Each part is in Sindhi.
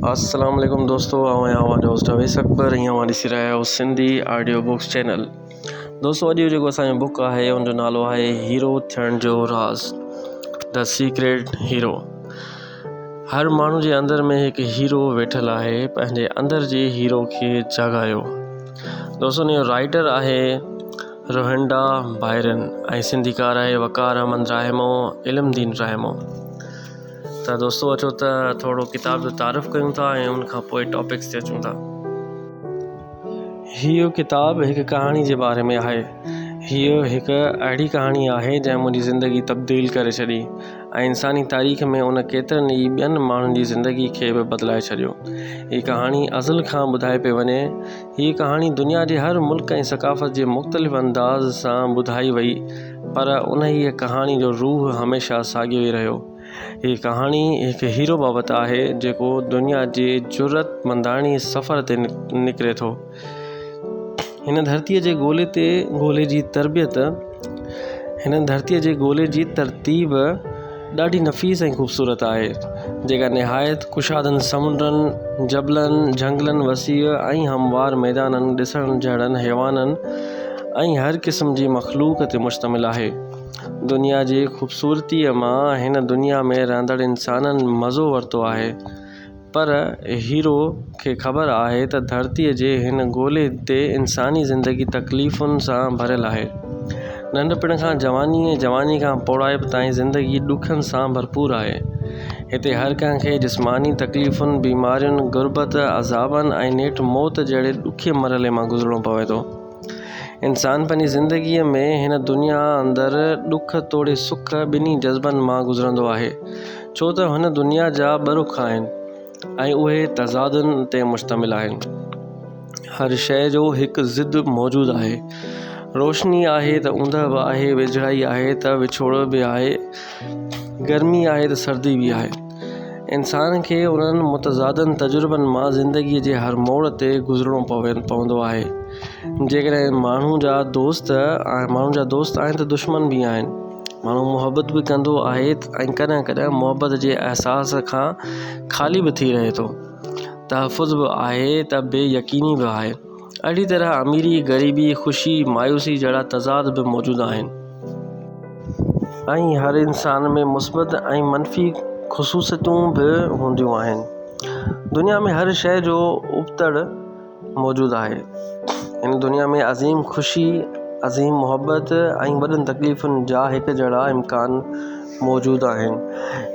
السلام عليڪم دوستو آئون آهيان اوهان جو هوسٽ اويس اڪبر ۽ اوهان ڏسي رهيا آهيو سنڌي آڊيو بڪس چينل دوستو اڄ جو جيڪو اسانجو بڪ آهي ان جو نالو آهي هيرو ٿيڻ جو راز دا سيڪريٽ هيرو هر ماڻهو جي اندر ۾ هڪ هيرو ويٺل آهي پنهنجي اندر جي هيرو کي جاڳايو دوستو ان جو رائٽر آهي روهنڊا بائرن ۽ سنڌيڪار آهي وقار احمد راهمو علم دين راهمو ته دوستو اچو ته ٿورو ڪتاب جو تعارف ڪيون ٿا ۽ ان کان پوء ٽاپڪس تي اچون ٿا هيء ڪتاب هڪ ڪهاڻي جي باري ۾ آهي هيء هڪ اهڙي ڪهاڻي آهي جنهن منهنجي زندگي تبديل ڪري ڇڏي ۽ انساني تاريخ ۾ ان ڪيترن ئي ٻين ماڻهن جي زندگي کي به بدلائي ڇڏيو هيء ڪهاڻي ازل کان ٻڌائي پئي وڃي هيء ڪهاڻي دنيا جي هر ملڪ ۽ ثقافت جي مختلف انداز سان ٻڌائي وئي پر انهيء ڪهاڻي جو روح هميشه ساڳيو ئي رهيو. هيء ڪهاڻي هڪ هيرو بابت آهي، جيڪو دنيا جي جرئتمنداڻي سفر تي نڪري ٿو. هن ڌرتيء جي گولي تي گولي جي تربيت، هن ڌرتيء جي گولي جي ترتيب، ڏاڍي نفيس ۽ خوبصورت آهي، جيڪا نهايت ڪشادن سمنڊن، جبلن، جهنگلن، وسيع ۽ هموار ميدانن، ڏسڻ جهڙن حيوانن ۽ هر قسم جي مخلوق تي مشتمل آهي. دنيا جي خوبصورتيء مان هن دنيا ۾ رهندڙ انسانن مزو ورتو آهي. پر هيرو کي خبر آهي ته ڌرتي جي هن گولي تي انساني زندگي تڪليفن سان ڀريل آهي. ننڍپڻ کان جواني ۽ جواني کان پوڙهائپ تائين زندگي ڏکن سان ڀرپور آهي. هتي هر ڪنهن کي جسماني تڪليفن، بيمارين، غربت، عذابن ۽ نيٺ موت جهڙي ڏکي مرحلي مان گذرڻو پوي ٿو. انسان پنهنجي زندگيء ۾ هن دنيا اندر ڏک توڙي سک ٻنهي جذبن مان گذرندو آهي، ڇو ته هن دنيا جا ٻه رخ آهن ۽ اهي تضادن تي مشتمل آهن. هر شيء جو هڪ ضد موجود آهي. روشني آهي ته اوندهه به آهي، ويجهڙائي آهي ته وڇوڙ به آهي، گرمي آهي ته سردي به آهي. انسان کي انهن متضادن تجربن مان زندگيء جي هر موڙ تي گذرڻو پوندو آهي. جيڪڏهن ماڻهو جا دوست آهن ته دشمن به آهن. ماڻهو محبت به ڪندو آهي ۽ ڪڏهن ڪڏهن محبت جي احساس کان خالي به ٿي رهي ٿو. تحفظ به آهي ته بي يقيني به آهي. اهڙي طرح اميري، غريبي، خوشي، مايوسي جهڙا تضاد به موجود آهن. ائين هر انسان ۾ مثبت ۽ منفي خصوصيتون به هونديون آهن. دنيا ۾ هر شيء جو ابتڙ موجود آهي. هن دنيا ۾ عظيم خوشي، عظيم محبت ۽ وڏن تڪليفن جا هڪ جهڙا امڪان موجود آهن.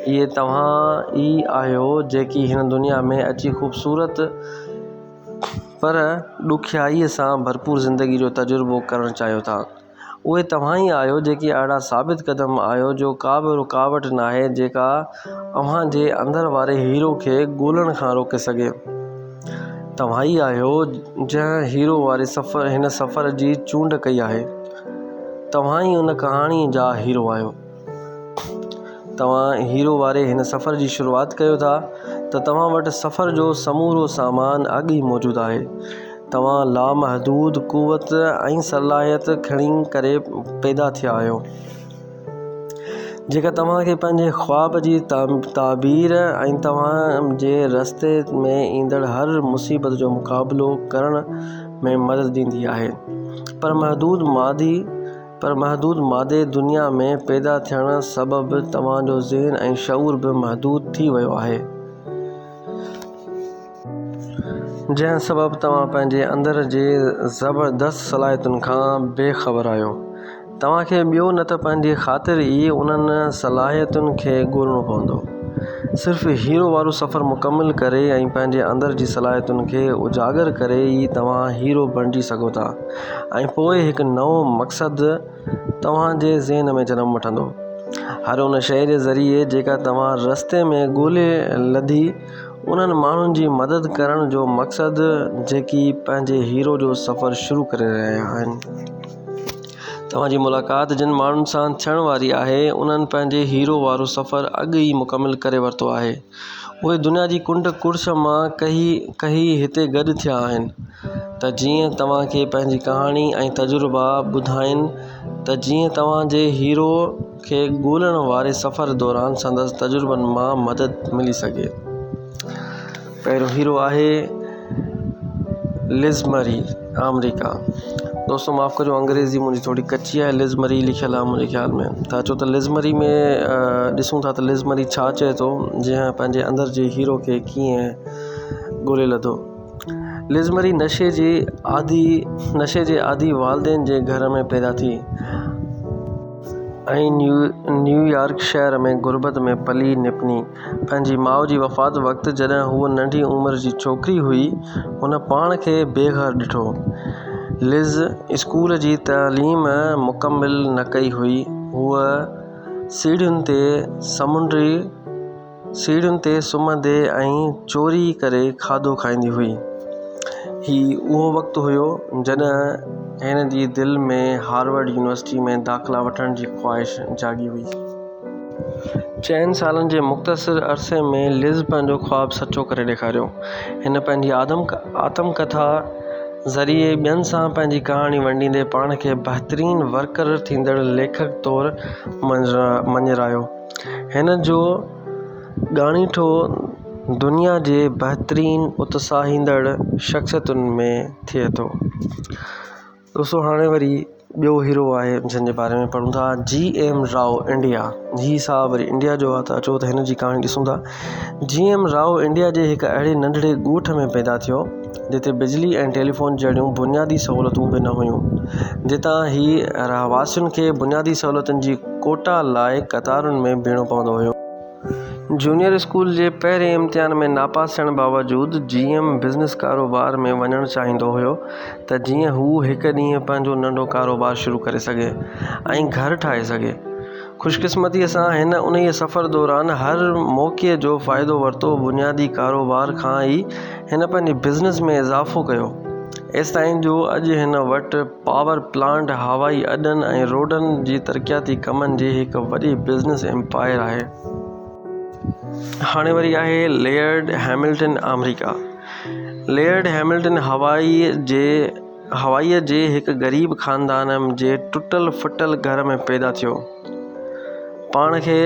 اهي توهان ئي آهيو جيڪي هن دنيا ۾ اچي خوبصورت پر ڏکيائيء سان ڀرپور زندگيء جو تجربو ڪرڻ چاهيو ٿا، اهي توهان ئي آهيو جيڪي اهڙا ثابت قدم آهيو جو ڪا به رڪاوٽ ناهي جيڪا اوهان جي اندر واري هيرو کي ڳولڻ کان روڪي سگهي. توهان ئي آهيو جنهن هيرو واري سفر هن سفر جي چونڊ ڪئي آهي. توهان ئي ان ڪهاڻيء جا هيرو آهيو. توهان هيرو واري هن سفر جي شروعات ڪيو ٿا ته توهان وٽ سفر جو سمورو سامان اڳ ئي موجود آهي. توهان لامحدود قوت ۽ صلاحيت کڻي ڪري پيدا ٿيا آهيو، جيڪا توهان کي پنهنجي خواب جي تعبير ۽ توهان جي رستي ۾ ايندڙ هر مصيبت جو مقابلو ڪرڻ ۾ مدد ڏيندي آهي. پر محدود مادي پر محدود مادي دنيا ۾ پيدا ٿيڻ سبب توهان جو ذهن ۽ شعور به محدود ٿي ويو آهي. جنهن سبب توهان پنهنجي اندر جي زبردست صلاحيتن کان بي خبر آهيو. توهان کي ٻيو نه ته پنهنجي خاطر ئي انهن صلاحيتن کي ڳولڻو پوندو. صرف هيرو وارو سفر مڪمل ڪري ۽ پنهنجي اندر جي صلاحيتن کي اجاگر ڪري ئي توهان هيرو بڻجي سگهو ٿا. ۽ پوء هڪ نئون مقصد توهان جي ذهن ۾ جنم وٺندو. هر ان شيء جي ذريعي جيڪا توهان رستي ۾ ڳولي لڌي، انهن ماڻهن جي مدد ڪرڻ جو مقصد جيڪي پنهنجي هيرو جو سفر شروع ڪري رهيا آهن. توهان جي ملاقات جن ماڻهن سان ٿيڻ واري آهي، انهن پنهنجي هيرو وارو سفر اڳ ئي مڪمل ڪري ورتو آهي. اهي دنيا جي ڪنڊ ڪڙڇ مان ڪهي ڪهي هتي گڏ ٿيا آهن ته جيئن توهان کي پنهنجي ڪهاڻي ۽ تجربا ٻڌائين ته جيئن توهان جي هيرو کي ڳولڻ واري سفر دوران سندس تجربن مان مدد ملي سگهي پهريون هيرو آهي لزمري آمريڪا دوستو معاف ڪجو انگريزي منهنجي ٿوري ڪچي آهي لزمري لکيل آهي منهنجي خيال ۾ ٿا چئو ته لزمري ۾ ڏسون ٿا ته لزمري ڇا چئي ٿو جنهن پنهنجي اندر جي هيرو کي ڪيئن ڳولي لڌو لزمري نشي جي آدي نشي جي آدي والدين جي گهر ۾ پيدا ٿي ۽ نيو نيويارڪ شهر ۾ غربت ۾ پلي نپني پنهنجي ماء جي وفات وقت جڏهن هوء ننڍي عمر جي ڇوڪري هئي، هن پاڻ کي بي گهر ڏٺو. لز اسڪول جي تعليم مڪمل نه ڪئي هئي. هوء سيڙهين تي سمنڊي سيڙهين تي سمهندي ۽ چوري ڪري کاڌو کائيندي هئي. هي اهو وقت هيو جڏهن هن جي دل ۾ هارورڊ يونيورسٽيء ۾ داخلا وٺڻ جي خواهش جاڳي هئي. چئن سالن جي مختصر عرصي ۾ لز پنهنجو خواب سچو ڪري ڏيکاريو هن پنهنجي آتم ڪٿا ذريعي ٻين سان پنهنجي ڪهاڻي ونڊيندي پاڻ کي بهترين ورڪر ٿيندڙ ليکڪ طور مڃرايو هن جو ڳاڻيٺو دنيا جي بهترين اتساهيندڙ شخصيتن ۾ ٿئي ٿو دوستو هاڻي وري ٻيو هيرو آهي جنهن جي باري ۾ پڙهون ٿا جي ايم راء انڊيا هي صاحب وري انڊيا جو آهي ته اچو ته هن جي ڪهاڻي ڏسون ٿا جي ايم راء انڊيا جي هڪ اهڙي ننڍڙي ڳوٺ ۾ پيدا ٿيو جتي بجلي ۽ ٽيليفون جهڙيون بنيادي سهولتون به نه هيون جتان هي رهواسين کي بنيادي سهولتن جي ڪوٽا لاء قطارن ۾ بيهڻو پوندو هيو جونيئر اسڪول جي پهرين امتحان ۾ ناپاس ٿيڻ باوجود جي ايم بزنس ڪاروبار ۾ وڃڻ چاهيندو هيو ته جيئن هو هڪ ڏينهن پنهنجو ننڍو ڪاروبار شروع ڪري سگهي ۽ گهر ٺاهي سگهي. خوشقسمتيء سان هن انهيء سفر دوران هر موقعي جو فائدو ورتو، بنيادي ڪاروبار کان ئي هن پنهنجي بزنس ۾ اضافو ڪيو ايستائين جو اڄ هن وٽ پاور پلانٽ، هوائي اڏن ۽ روڊن جي ترقياتي ڪمن جي هڪ وڏي بزنس ايمپائر آهي. هاڻي وري آهي ليئرڊ هيملٽن آمريڪا ليئرڊ هيملٽن هوائي جي هوائي جي هڪ غريب خاندان جي ٽٽل ڦٽل گهر ۾ پيدا ٿيو. پاڻ کي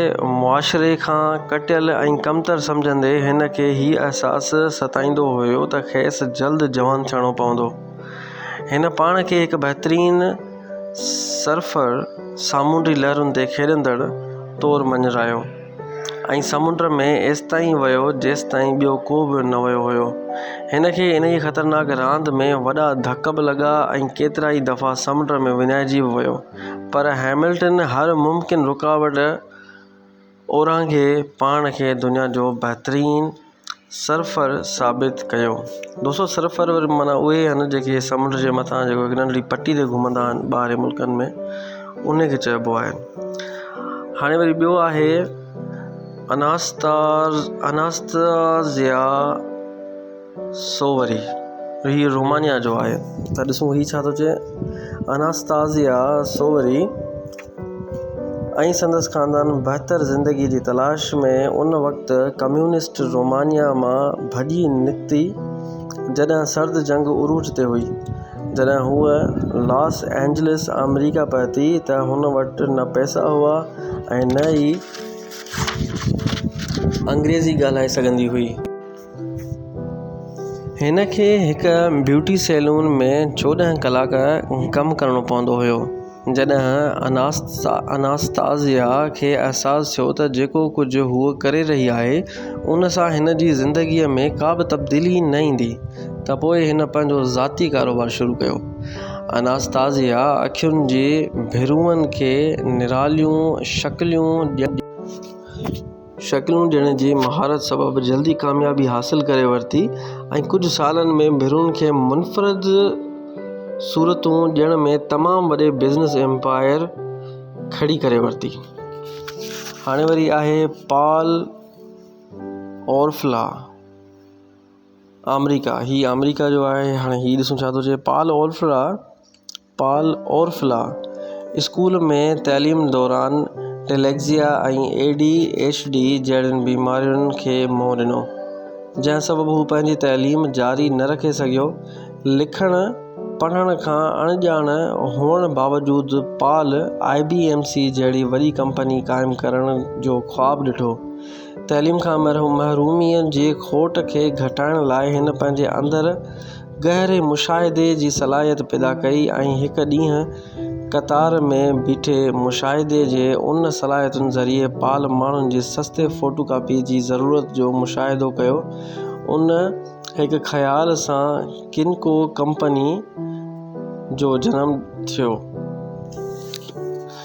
معاشري کان ڪٽيل ۽ ڪمتر سمجهندي هن کي هي احساس ستائيندو هيو ته کيس جلد جوان ٿيڻو پوندو. هن پاڻ کي هڪ بهترين سرفر، سامونڊي لهرن تي کيڏندڙ، طور مڃرايو ۽ سمنڊ ۾ ايستائين ويو جيستائين ٻيو ڪو به نه ويو هيو. هن کي انهيء خطرناڪ راند ۾ وڏا ڌڪ به لڳا ۽ ڪيترائي دفعا سمنڊ ۾ وڃائجي به ويو پر هئملٽن هر ممڪن رڪاوٽ اورانگھي پاڻ کي دنيا جو بهترين سرفر ثابت ڪيو دوستو سرفر معنيٰ اهي آهن جيڪي سمنڊ جي مٿان جيڪو هڪ ننڍڙي پٽي تي گهمندا آهن ٻاهرين ملڪن ۾ ان کي چئبو آهي هاڻي وري ٻيو آهي اناستا اناستازيا سو وري هي رومانيا جو آهي ته ڏسون هي ڇا ٿو چئي اناستازيا سو وري ۽ سندس خاندان بهتر زندگي جي تلاش ۾ ان وقت ڪميونسٽ رومانيا مان ڀڄي نڪتي جڏهن سرد جنگ عروج تي هئي جڏهن هوء لاس اينجلس آمريڪا پهتي ته هن وٽ نه پئسا هئا ۽ نه ئي انگريزي ڳالهائي سگهندي هئي هن کي هڪ بيوٽي سيلون ۾ چوڏهن ڪلاڪ ڪم ڪرڻو پوندو هيو جڏهن اناستاسيا کي احساس ٿيو ته جيڪو ڪجهه هوء ڪري رهي آهي ان سان هن جي زندگي ۾ ڪا به تبديلي نه ايندي ته پوء هن پنهنجو ذاتي ڪاروبار شروع ڪيو اناستاسيا اکين جي ڀرون کي نراليون شڪليون ڏيڻ شڪلون ڏيڻ جي مهارت سبب جلدي ڪاميابي حاصل ڪري ورتي ۽ ڪجهه سالن ۾ ڀرون کي منفرد صورتون ڏيڻ ۾ تمام وڏي بزنس ايمپائر کڙي ڪري ورتي هاڻي وري آهي پال اورفلا آمريڪا هي آمريڪا جو آهي هاڻي هي ڏسون ڇا ٿو چئي Paul Orfalea Paul Orfalea school ۾ تعليم دوران dyslexia ۽ A D H D جهڙين بيمارين کي منهن ڏنو، جنهن سبب هو پنهنجي تعليم جاري نه رکي سگهيو. لکڻ پڙهڻ کان اڻڄاڻ هئڻ باوجود Paul I B M C جهڙي وڏي ڪمپني قائم ڪرڻ جو خواب ڏٺو، تعليم کان محروميء جي کوٽ کي گهٽائڻ لاء هن پنهنجي اندر گهري مشاهدي جي صلاحيت پيدا ڪئي ۽ هڪ ڏينهن قطار ۾ بيٺي مشاهدي جي ان صلاحيتن ذريعي پال ماڻهن جي سستي فوٽو ڪاپيء جي ضرورت جو مشاهدو ڪيو ان هڪ خيال سان ڪنڪو ڪمپني جو جنم ٿيو.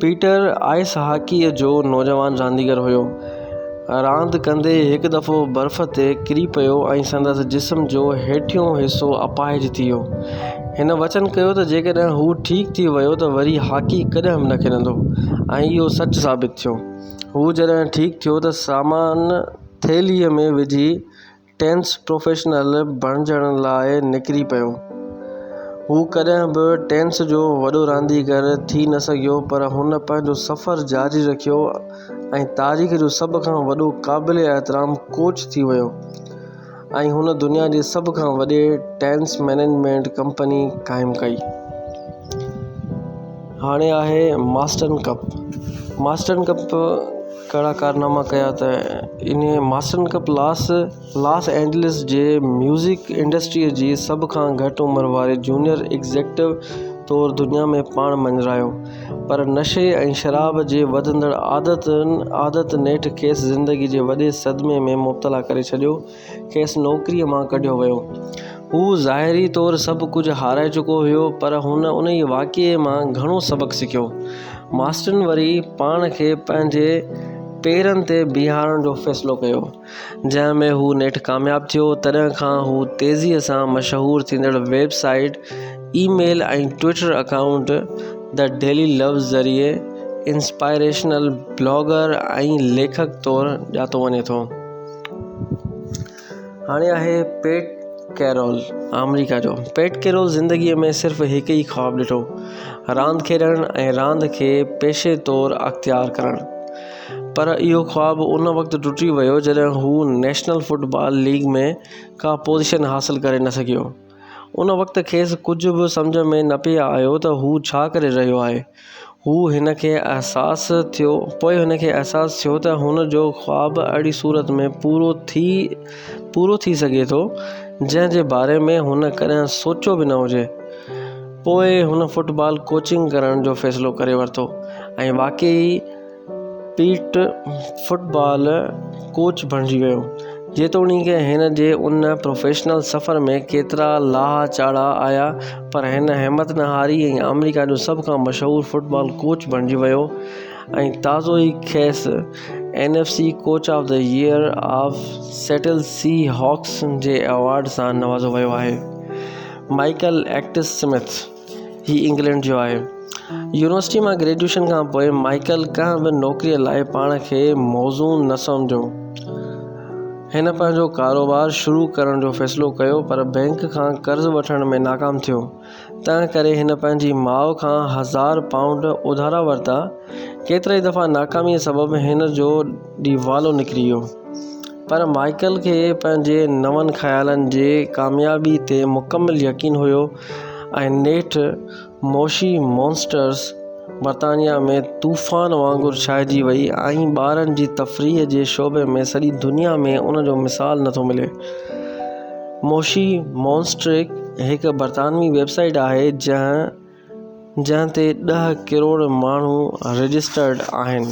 پيٽر آئس هاڪيء جو نوجوان رانديگر هيو. راند ڪندي هڪ دفعو برف تي ڪري پيو ۽ سندس جسم جو هيٺيون حصو اپاهج ٿي ويو. هن وچن ڪيو ته جيڪڏهن هو ٺيڪ ٿي ويو ته وري هاڪي ڪڏهن به نه کيڏندو ۽ اهو سچ ثابت ٿيو. هو جڏهن ٺيڪ ٿيو ته سامان ٿيلهيء ۾ وجهي، ٽينس پروفيشنل بڻجڻ لاء نڪري پيو. هو ڪڏهن به ٽينس جو وڏو رانديگر ٿي نه سگهيو پر هن پنهنجو سفر جاري رکيو ۽ تاريخ جو سڀ کان وڏو قابل احترام ڪوچ ٿي ويو ۽ هن دنيا جي سڀ کان وڏي ٽينس مئنيجمينٽ ڪمپني قائم ڪئي. هاڻي آهي ماسٽن ڪپ ماسٽن ڪپ ڪهڙا ڪارناما ڪيا ته ان ماسٽن ڪپ لاس لاس اينجلس جي ميوزڪ انڊسٽريء جي سڀ کان گهٽ عمر واري جونيئر ايگزيڪٽو طور دنيا ۾ پاڻ مڃرايو پر نشي ۽ شراب جي وڌندڙ عادت نيٺ کيس زندگيء جي وڏي صدمي ۾ مبتلا ڪري ڇڏيو کيس نوڪريء مان ڪڍيو ويو. هو ظاهري طور سڀ ڪجهه هارائي چڪو هيو، پر هن انهيء واقعي مان گهڻو سبق سکيو. ماسٽن وري پاڻ کي پنهنجي پيرن تي بيهارڻ جو فيصلو ڪيو، جنهن ۾ هو نيٺ ڪامياب ٿيو. تڏهن کان هو تيزيء سان مشهور ٿيندڙ website, email ۽ Twitter account The Daily Love ذريعي انسپائريشنل بلاگر ۽ ليکڪ طور ڄاتو وڃي ٿو. هاڻي آهي پيٽ ڪيرول آمريڪا جو پيٽ ڪيرول زندگي ۾ صرف هڪ ئي خواب ڏٺو راند کيڏڻ ۽ راند کي پيشي طور اختيار ڪرڻ پر اهو خواب ان وقت ٽٽي ويو جڏهن هو نيشنل فٽ بال ليگ ۾ ڪا پوزيشن حاصل ڪري نه سگهيو ان وقت کيس ڪجهه به سمجهه ۾ نه پئي آيو ته هو ڇا ڪري رهيو آهي. پوء هن کي احساس ٿيو ته هن جو خواب اهڙي صورت ۾ پورو ٿي سگهي ٿو، جنهن جي باري ۾ هن ڪڏهن سوچيو به نه هجي. پوء هن فٽبال ڪوچنگ ڪرڻ جو فيصلو ڪري ورتو ۽ واقعي ئي پيٽ فٽ بال ڪوچ بڻجي ويو. جيتوڻيڪ هن جي ان پروفيشنل سفر ۾ ڪيترا لاها چاڙها آيا پر هن همت نه هاري ۽ آمريڪا جو سڀ کان مشهور فٽ بال ڪوچ بڻجي ويو ۽ تازو ئي کيس N F C coach of the year of Seattle Seahawks جي ايوارڊ سان نوازو ويو آهي مائيڪل ايڪٽس سمٿ هي انگلينڊ جو آهي. يونيورسٽيء مان گريجوئيشن کان پوء مائيڪل ڪنهن به نوڪريء لاء پاڻ کي موزون نه سمجهيو. هن پنهنجو ڪاروبار شروع ڪرڻ جو فيصلو ڪيو پر بئنڪ کان قرض وٺڻ ۾ ناڪام ٿيو. تنهنڪري هن پنهنجي ماء کان هزار پائونڊ اڌارا ورتا. ڪيترائي دفعا ناڪاميء سبب هن جو ڏيوالو نڪري ويو. پر مائيڪل کي پنهنجي نون خيالن جي ڪاميابيء تي مڪمل يقين هيو. ۽ نيٺ موشي مونسٽرز برطانيا ۾ طوفان وانگر ڇائجي وئي ۽ ٻارن جي تفريح جي شعبي ۾ سڄي دنيا ۾ ان جو مثال نٿو ملي موشي مونسٽرڪ هڪ برطانوي ويب سائيٽ آهي جنهن تي ڏهه ڪروڙ ماڻهو رجسٽرڊ آهن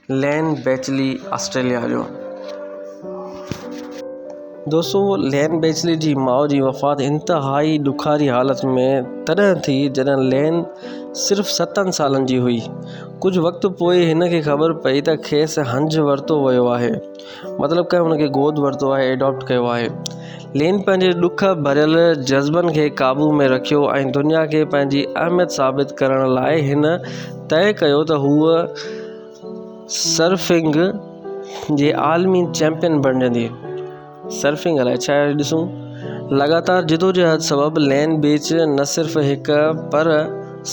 لين بيچلي آسٽريليا جو دوستو لين بيچلي جي ماء جي وفات انتهائي ڏکاري حالت ۾ تڏهن ٿي جڏهن لين صرف ستن سالن جي هئي ڪجهه وقت پوء هن کي خبر پئي ته کيس هنج ورتو ويو آهي مطلب ڪنهن ان کي گود ورتو آهي Adopt ڪيو آهي لين پنهنجي ڏک ڀريل جذبن کي قابو ۾ رکيو ۽ دنيا کي پنهنجي اهميت ثابت ڪرڻ لاء هن طئي ڪيو ته هوء سرفنگ جي عالمي چيمپيئن بڻجندي سرفنگ لاء ڇا آهي ڏسون لڳاتار جدوجهد سبب لين بيچ نه صرف هڪ پر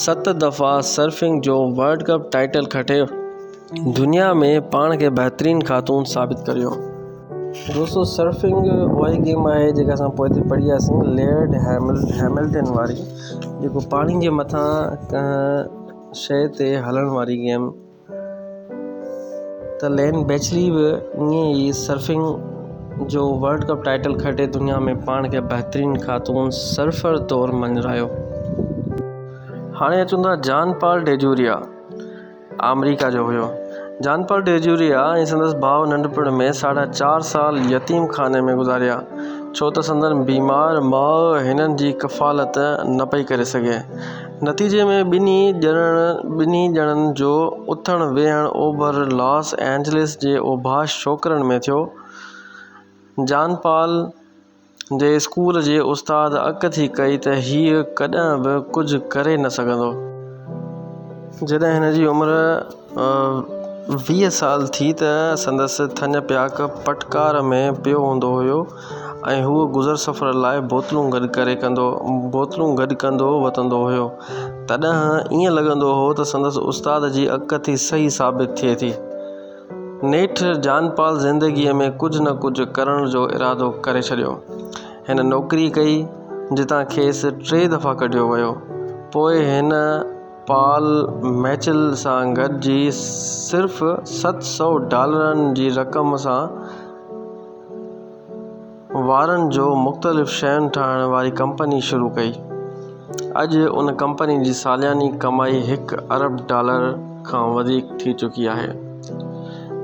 ست دفعا سرفنگ جو ورلڊ ڪپ ٽائيٽل کٽي دنيا ۾ پاڻ کي بهترين خاتون ثابت ڪريو دوستو سرفنگ اها ئي گيم آهي جيڪا اسان پوئتي پڙهي آياسين ليئرڊ هيمل هيملٽن واري جيڪو پاڻي جي مٿان ڪنهن شي تي هلڻ واري گيم ته لين بيچلي به ائين ئي سرفنگ جو ورلڊ ڪپ ٽائٽل کٽي دنيا ۾ پاڻ کي بهترين خاتون سرفر طور مڃرايو هاڻي اچون ٿا جان پال ڊيجوريا آمريڪا جو هيو. جان پال ڊي جيوريا ۽ سندس ڀاء ننڍپڻ ۾ ساڍا چار سال يتيم خاني ۾ گذاريا، ڇو ته سندن بيمار ماء هنن جي ڪفالت نه پئي ڪري سگهي. نتيجي ۾ ٻنهي ڄڻن ٻنهي ڄڻن جو اٿڻ ويهڻ اوڀر لاس اينجلس جي اوڀاش ڇوڪرن ۾ ٿيو. John Paul. جي اسڪول جي استاد اڪ ٿي ڪئي ته هيء ڪڏهن به ڪجهه ڪري نه سگهندو. جڏهن هن جي عمر ويهه سال ٿي ته سندس ٿڃ پياڪ پٽڪار ۾ پيو هوندو هيو ۽ هو گذر سفر لاء بوتلون گڏ ڪري ڪندو بوتلون گڏ ڪندو وتندو هيو. تڏهن ائين لڳندو هو ته سندس استاد جي اڪ ٿي صحيح ثابت ٿئي ٿي. نيٺ جان پال زندگيء ۾ ڪجهه نه ڪجهه ڪرڻ جو ارادو ڪري ڇڏيو. هن نوڪري ڪئي، جتان کيس ٽي دفعا ڪڍيو ويو. پوء هن پال ميچل سان گڏجي صرف ست سؤ ڊالرن جي رقم سان، وارن جو مختلف شين ٺاهڻ واري ڪمپني شروع ڪئي. اڄ ان ڪمپني جي سالياني ڪمائي هڪ ارب ڊالر کان وڌيڪ ٿي چڪي آهي.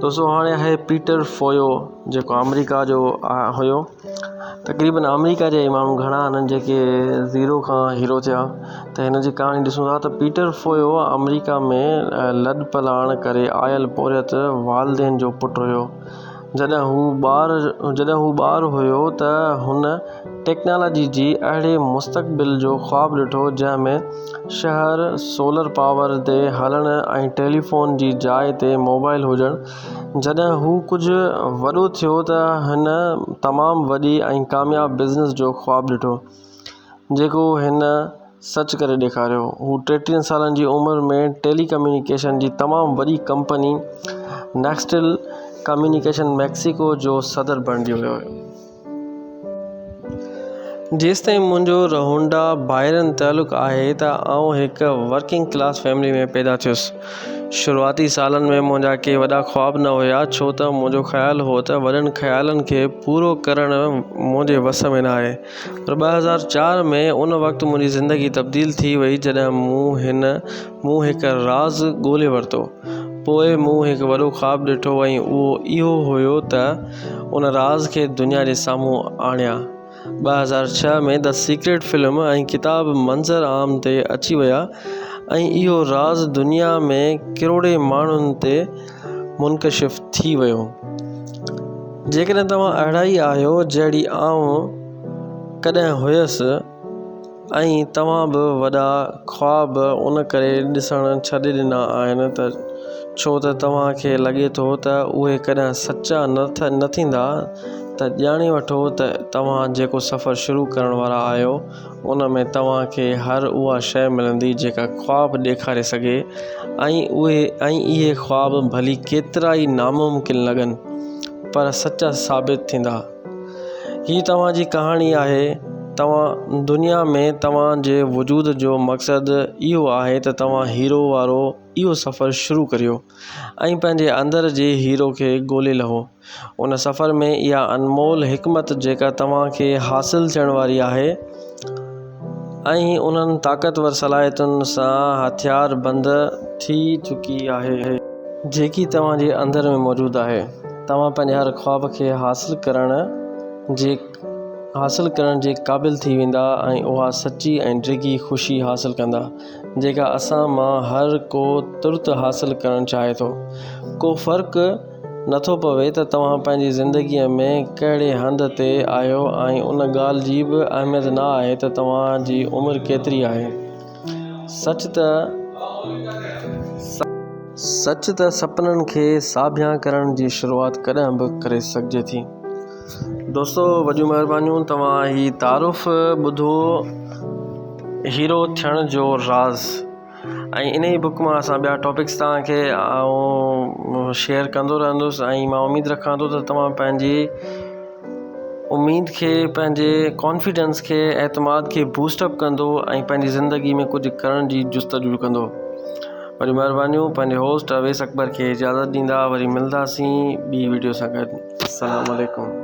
دوستو هاڻي آهي پيٽر فويو جيڪو آمريڪا جو هيو. تقريبن آمريڪا جا ئي ماڻهو گهڻا آهن جيڪي زيرو کان هيرو ٿيا ته هن جي ڪهاڻي ڏسون ٿا ته پيٽر فويو آمريڪا ۾ لڏپلاڻ ڪري آيل پورهيت والدين جو پٽ هيو. جڏهن هو ٻار جڏهن هو ٻار هيو ته هن ٽيڪنالاجي جي اهڙي مستقبل جو خواب ڏٺو جنهن ۾ شهر سولر پاور تي هلڻ ۽ ٽيليفون جي جاء تي موبائل هجڻ جڏهن هو ڪجهه وڏو ٿيو ته هن تمام وڏي ۽ ڪامياب بزنس جو خواب ڏٺو جيڪو هن سچ ڪري ڏيکاريو. هو ٽيٽيهن سالن جي عمر ۾ ٽيلي ڪميونيڪيشن جي تمام وڏي ڪمپني نيڪسٽيل ڪميونيڪيشن ميڪسيڪو جو صدر بڻجي ويو. جيستائين منهنجو رهونڊا بائرن تعلق آهي ته آئون هڪ ورڪنگ ڪلاس فيملي ۾ پيدا ٿيس. شروعاتي سالن ۾ منهنجا ڪي وڏا خواب نه هيا ڇو ته منهنجو خيال هو ته وڏن خيالن کي پورو ڪرڻ منهنجي وس ۾ ناهي. پر ٻه هزار چار ۾ ان وقت منهنجي زندگي تبديل ٿي وئي جڏهن مون هن مون هڪ راز ڳولي ورتو پوء مون هڪ وڏو خواب ڏٺو ۽ اهو اهو هيو ته ان راز کي دنيا جي سامهون آڻيان ٻه هزار ڇهه ۾ The Secret فلم ۽ ڪتاب منظر عام تي اچي ويا ۽ اهو راز دنيا ۾ ڪروڙين ماڻهن تي منڪشف ٿي ويو. جيڪڏهن توهان اهڙا ئي آهيو جهڙي آئون ڪڏهن هيس ۽ توهان به وڏا خواب ان ڪري ڏسڻ ڇڏي ڏنا آهن ته ڇو ته توهان کي لڳي ٿو ته اهي ڪڏهن سچا نه ٿيندا ته ڄاڻي وٺو ته توهان جيڪو سفر شروع ڪرڻ وارا آهيو ان ۾ توهان کي هر اها شيء ملندي جيڪا خواب ڏيکاري سگهي ۽ اهي خواب ڀلي ڪيترا ئي ناممڪن لڳن پر سچا ثابت ٿيندا. هي توهان جي ڪهاڻي آهي. توهان دنيا ۾ توهان جي وجود جو مقصد اهو آهي ته توهان هيرو وارو اهو سفر شروع ڪريو ۽ پنهنجي اندر جي هيرو کي ڳولي لهو. ان سفر ۾ اها انمول حڪمت جيڪا توهان کي حاصل ٿيڻ واري آهي ۽ انهن طاقتور صلاحيتن سان هٿيار بند ٿي چڪي آهي، جيڪي توهان جي اندر ۾ موجود آهي، توهان پنهنجي هر خواب کي حاصل ڪرڻ جي حاصل ڪرڻ جي قابل ٿي ويندا ۽ اها سچي ۽ ڊگهي خوشي حاصل ڪندا جيڪا اسان مان هر ڪو ترت حاصل ڪرڻ چاهي ٿو ڪو فرق نٿو پوي ته توهان پنهنجي زندگيء ۾ ڪهڙي هنڌ تي آهيو ۽ ان ڳالهه جي به اهميت نه آهي ته توهان جي عمر ڪيتري آهي. سچ ته سپنن کي ساڀيان ڪرڻ جي شروعات ڪڏهن به ڪري سگهجي ٿي. دوستو وڏيون مهربانيون توهان هي تعارف ٻڌو هيرو ٿيڻ جو راز. ۽ انهي ئي بڪ مان اسان ٻيا ٽاپڪس توهان کي آئون شيئر ڪندو رهندس ۽ مان اميد رکان ٿو ته توهان پنهنجي اميد کي پنهنجي ڪانفيڊنس کي اعتماد کي بوسٽ اپ ڪندو ۽ پنهنجي زندگي ۾ ڪجهه ڪرڻ جي جستجو ڪندو وڏيون مهربانيون پنهنجي هوسٽ اويس اڪبر کي اجازت ڏيندا وري ملنداسين ٻي ويڊيو سان گڏ السلام عليڪم